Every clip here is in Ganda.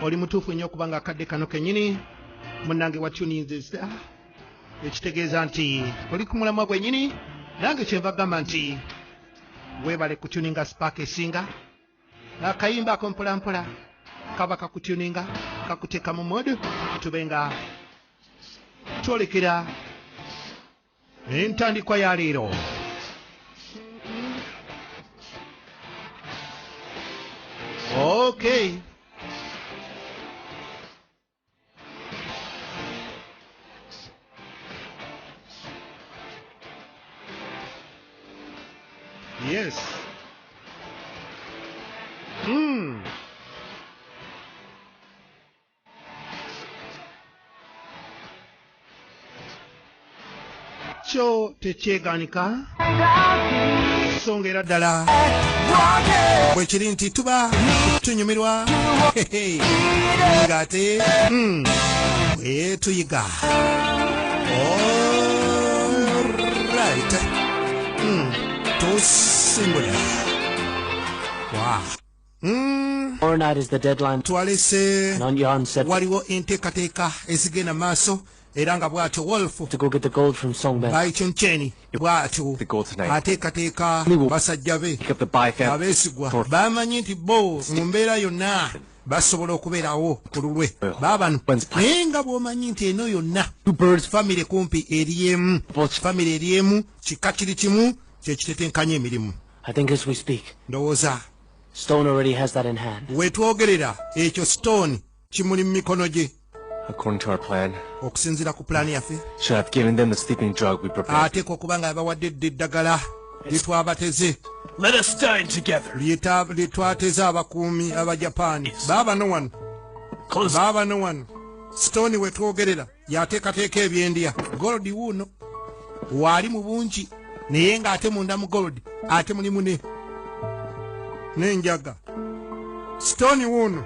oli mutuufu nnyo kubanga akadde kano kenyini munange watuninzisa ah, ekitegeeza nti oli ku mulamwa gwenyini nange kyenva gamba nti webale kutuninga spark esinga akayimba ako mpolampola kaba kakutuninga kakuteeka mu modu tube nga twolekera entandikwa ya leero okay yes mm. kyo tekyeganika songa era ddala bwekiri nti tuba tunyumirwa ng'ate hmm, bwetuyiga orit hmm, tusimbula wa Hmm. twalese waliwo enteekateeka ezigenda maaso era nga bwatyo wolfbayicunkyeni bwatyo ateekateeka basajja be abeesigwa bamanyi nti bo mu mbeera yonna basobola okubeerawo ku lulwe eh. baabano naye nga bwomanyi nti eno yonna famire kumpi eryemu famire eryemu kika kiri kimu kyekitetenkanya emirimu ndowooza Stone already has that in hand. Wetwogerera ekyo Stone kimuli mu mikono gye. According to our plan. Okusinzira ku plan yaffe. Should have given them the sleeping drug we prepared. Ate ko kubanga abawadde eddagala litwabateze. Let us dine together. Lita litwateza abakuumi aba Japan. Baba no one. Close. Baba no one. Stone wetwogerera. yateekateeka ebyendya golodi wuuno waali mu bungi naye ng'ate munda mu golodi ate mulimu ne n'enjaga sitooni wuuno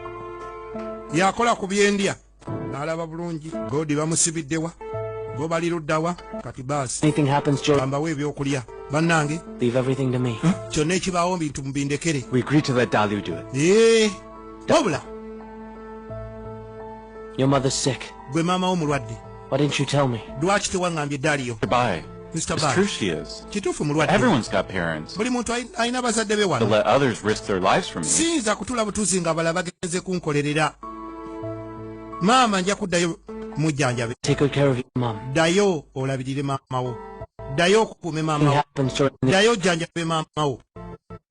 yakola ku byendya n'alaba bulungi golodi bamusibiddewa bo bali luddawa kati baasiambawo ebyokulya bannange kyonna ekibaawo bintu mubindekere wabula Your mother's sick. Gwe mama wo mulwadde. Why didn't you tell me? Lwaki tewangambye Dario? Goodbye. Mr. It's true she is. Kituufu mulwadde. Everyone's got parents. Buli muntu alina bazadde be wano. To let others risk their lives for me. Siyinza kutula butuzi nga abalala bagenze kunkolerera. Maama nja kuddayo mujjanjabe. Take good care of your mom. Ddayo olabirire maama wo. Ddayo okukuume maama wo. Ddayo ojjanjabe maama wo.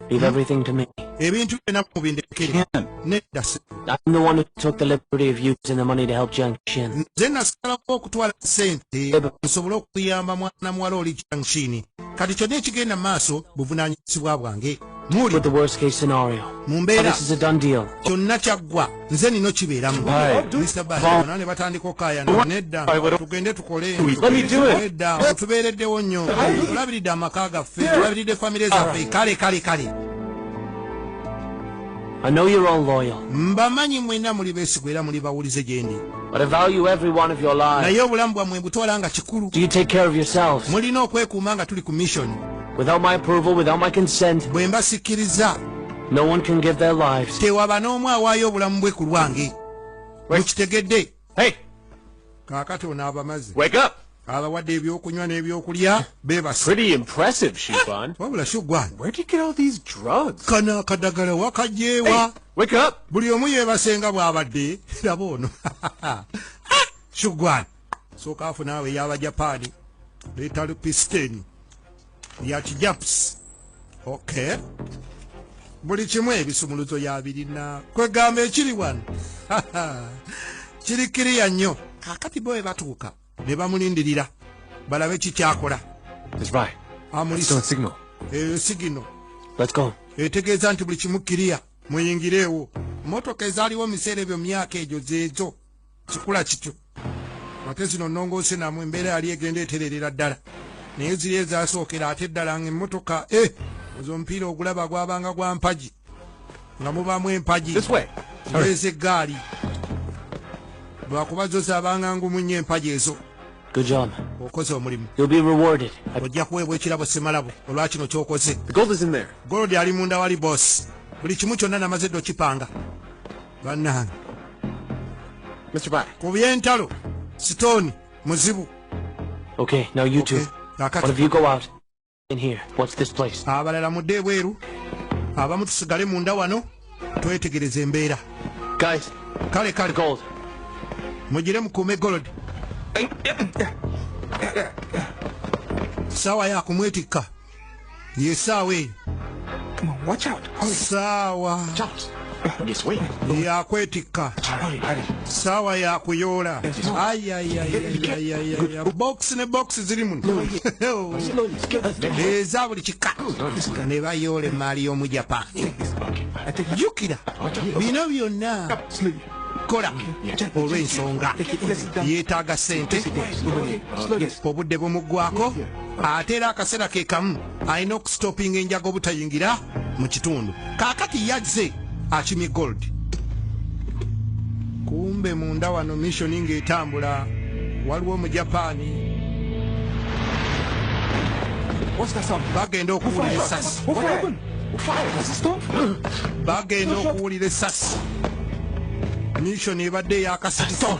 Leave everything to me. Ebintu byonna mubindekere. Nedda I'm the one who took the liberty of using the money to help Jiang Xin. Nze nasalako okutwala sente nsobole okuyamba mwana muwala oli Jiang Xin. Kati kyonna ekigenda mu maaso buvunaanyizibwa bwange. Muli. With the worst case scenario. Mu mbeera. This is a done deal. Kyonna kyaggwa. nze nino kibeeramu ne batandika okayana nedda tugende tukolenedda otubeereddewo nnyo tulabiridde amaka gaffe tulabiridde famire zaffe kale kale kale mbamanyi mwena muli besigwa era muli bawulize gyendi naye obulamu bwammwe mbutwala nga kikulu mulina okwekuuma nga tuli ku missioni Without my approval, without my consent. Bwe mba sikiriza. No one can give their lives. Tewaba n'omu awaayo obulamu bwe ku lwange. Mukitegedde. Hey. Kaakati ono abamaze. Wake up. abawadde ebyokunywa n'ebyokulya bebaswabula sugwankano akadagala wakajeewa buli omu yebasenga bwabadde laba ono sugwan sooka afu naawe eyabajapaani leetalu pisiteni ya kijapusi okay buli kimu ebisumuluzo yabirina kwegamba ekiri wano kiri kiriya nnyo kakati bo webatuuka ne bamulindirira balabe kikyakola sigino etegeeza nti buli kimu kiriya muyingireewo motoka ezaaliwo mu biseera ebyo myaka egyo zeezo kikula kityo ate zino nnongoose namwe embeera yali egenda etererera ddala naye ziri ezasookera ate ddala nga emmotoka e eh, ozo omupiira ogulaba gwabanga gwa mpagi nga mubaamu empagi ezo eggaali lwakuba zo zaabanga ngumu nnyo empagi ezo okoze omulimu ojja kuweebwa ekirabo semalabo olwa kino kyokoze golodi ali munda wali bosi buli kimu kyonna namaze dde okipanga banange ku byentalo sitooni muzibu Okay, now you two. Okay. One of you go out. In here. What's this place? Abalala mudde ebweru. Abamu tusigale munda wano. Twetegereze embeera. Guys. Kale kale. Gold. Mujire mukume gold. Sawa ya kumwetikka. yesaawa eyo saawa yakwetikka saawa yakuyoola box ne box ziri muno eza buli kika ne bayoola emaali y'omu japan jukira bino byonna kola olw'ensonga yeetaaga sente obudde bumuggwako ate era akaseera ke kamu alina okusitopinga enjaga obutayingira mu kitundu kaakati yazze akimye gold kumbe munda wano misioni ng'etambula waliwo mu japaani bagenda okuwulira esasi bagenda okuwulira esasi misioni ebadde eyakasitisa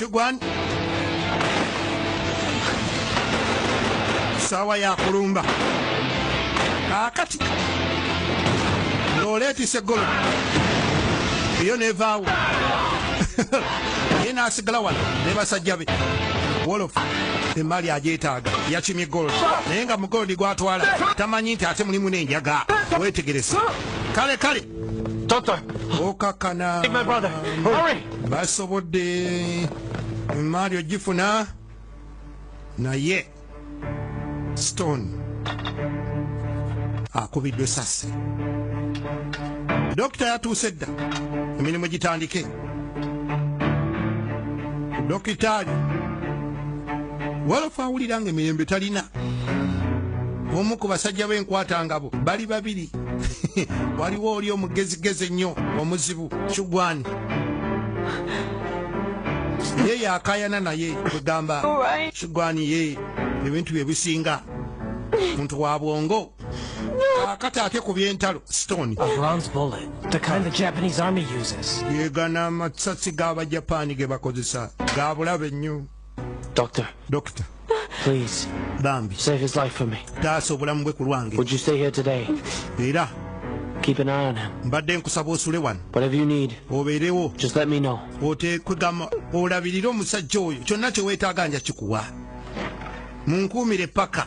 kigwan saawa yakulumba akati noleetisa eggolo eyo nevaawo ye nasigala wano ne basajja be wolof emaali agyetaaga yakimye gold naye nga mugolodi gwatwala tamanyi nti ate mulimu nenjaga wetegerese kale kale okakana basobodde emaali ogifuna naye stone akubiddwa esasi dokita yatuuse dda emirimu gitandike dokitaali walafa awulira nga emirembe talina omu ku basajja b'enkwata ngabo bali babiri waliwo oli omugezigezi ennyo omuzibu kigwani ye yakayana naye kugamba kigwani ye ebintu bye bisinga muntu wa bwongo akati ate ku byentalo stone yegana amasasi g'abajapaani ge bakozesa ga bulabe nnyo dokita bambi taasa obulamu bwe ku lwange era Keep an eye on him. Mbadde nkusaba osule wano. Whatever you need. Obeerewo. Just let me know. Oteekwegama olabirire omusajja oyo kyonna kye weetaaga nja kikuwa. Munkuumire paka.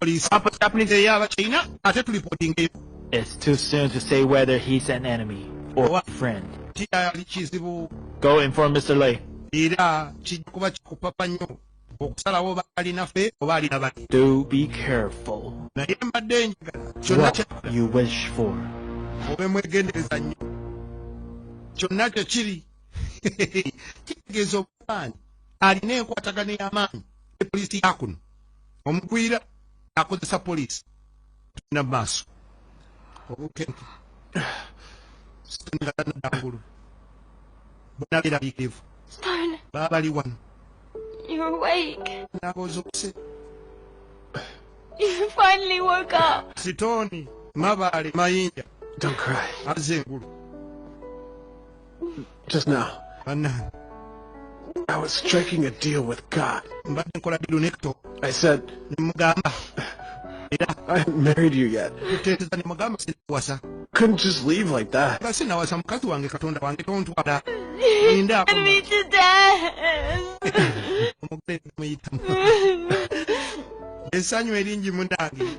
police apa ya police ya ba china ate tuli reporting eyo it's too soon to say whether he's an enemy or a friend tia lichizibu go inform mr lay ira chikuba chikupapa nyo okusala wo bali nafe oba ali nabani do be careful na yemba danger chona cha you wish for obe mwegendereza nyo chona cha chiri kitegezo bani alina enkwatagana y'amaanyi ne poliisi yakuno omugwira akozesa poliisi tugenda mu maaso obukenke sitanialanadangulu bona berabikirivu baabali wano nabozokuse sitooni mabaale mayinja azze engulu Just now. Banange. I was striking a deal with God. Mbadde nkola dilu ne Kato. I said. Nemugamba. Era. I haven't married you yet. Kuteeteza nemugamba sinawasa. Couldn't just leave like that. Nga sinawasa mukazi wange Katonda wange tontwala. Linda. I need to die. Omugole namuyitamu. Esanyu eringi munange.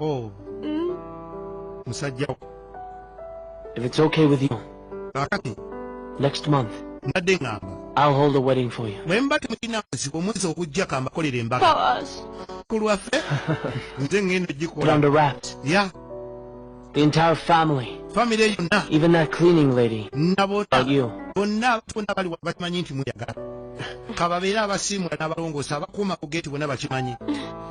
Oh. Mm. Musajja. If it's okay with you. Kakati. Next month. Nadde ngamba. I'll hold a wedding for you. Mwemba temulina mazibu omwezi ogujja kambakolera embaga. Ku lwaffe nze ngenda ogikola. Put on the wraps. Yeah. The entire family. Family yonna. Even that cleaning lady. Nabota. You. Bonna bonna bali bakimanyi nti muyagala. Kababeera abasiimula n'abalongoosa abakuuma ku geeti bonna bakimanyi.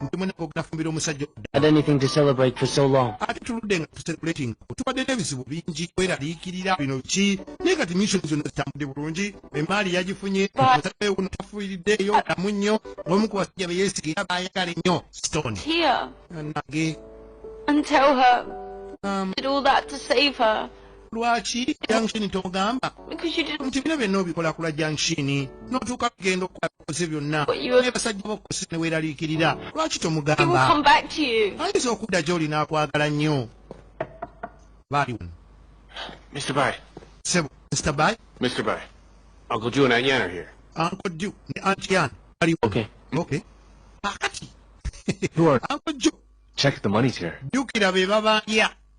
nti mwena kogenda fumbira omusajja ate tuludde nga tusekulating tubadde n'ebizibu bingi kweraliikirira bino ki naye kati misoni zonna zitambudde bulungi emaali yagifunye omusajja yono tafuiriddeeyo alamu nnyo omu ku basajja be yeesigira baayagala ennyo stone nage lwaki jankshini tomugamba nti bino byonna obikola kulwa jankshini notuuka kugenda okukoze byonna ne basajja bokukosa ne weeraliikirira lwaki tomugamba ayinza okudda gy'oli n'akwagala nnyo baali wano Mr. Bai. Sebo, Mr. Bai. Mr. Bai. Uncle Joe and Aunt Yan are here. Uncle Joe and Aunt Yan. Are you okay? Okay. Pakati. Who are? Uncle Joe. Check the money's here. Duke, I'll be bye bye. Yeah.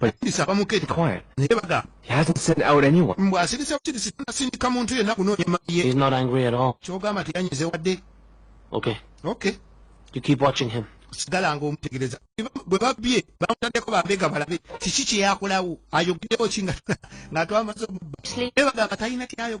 Bayimbisa bamukete Quiet. naye bagamba He hasn't sent out anyone. mbu asirise busirise tanasindika muntu yenna kunoonya emmaali ye He's not angry at all. kyogamba teyanyize wadde Okay. okay You keep watching him. sigala nga omutegereza bwe babbye bamutaddeko bambega balabe kiki kyeyakolawo ayogedewo ki nga nga twamaze omubba naye bagamba talina kyayogera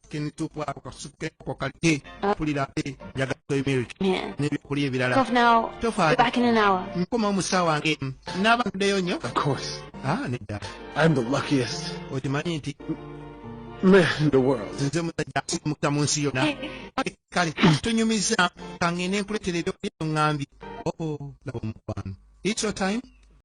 Lakini tu kwa ukasuke kwa kalite kulira ate njagala toy milk n'ebyokulya ebirala tofaayo nkoma omusawo wange n'aba ntuddeyo nnyo ah, nedda okimanyi nti nze musajja asimukira mu nsi yonna kale tunyumiza kangende nkuletera ebyokulya ngambye oh, laba omukwano it's your time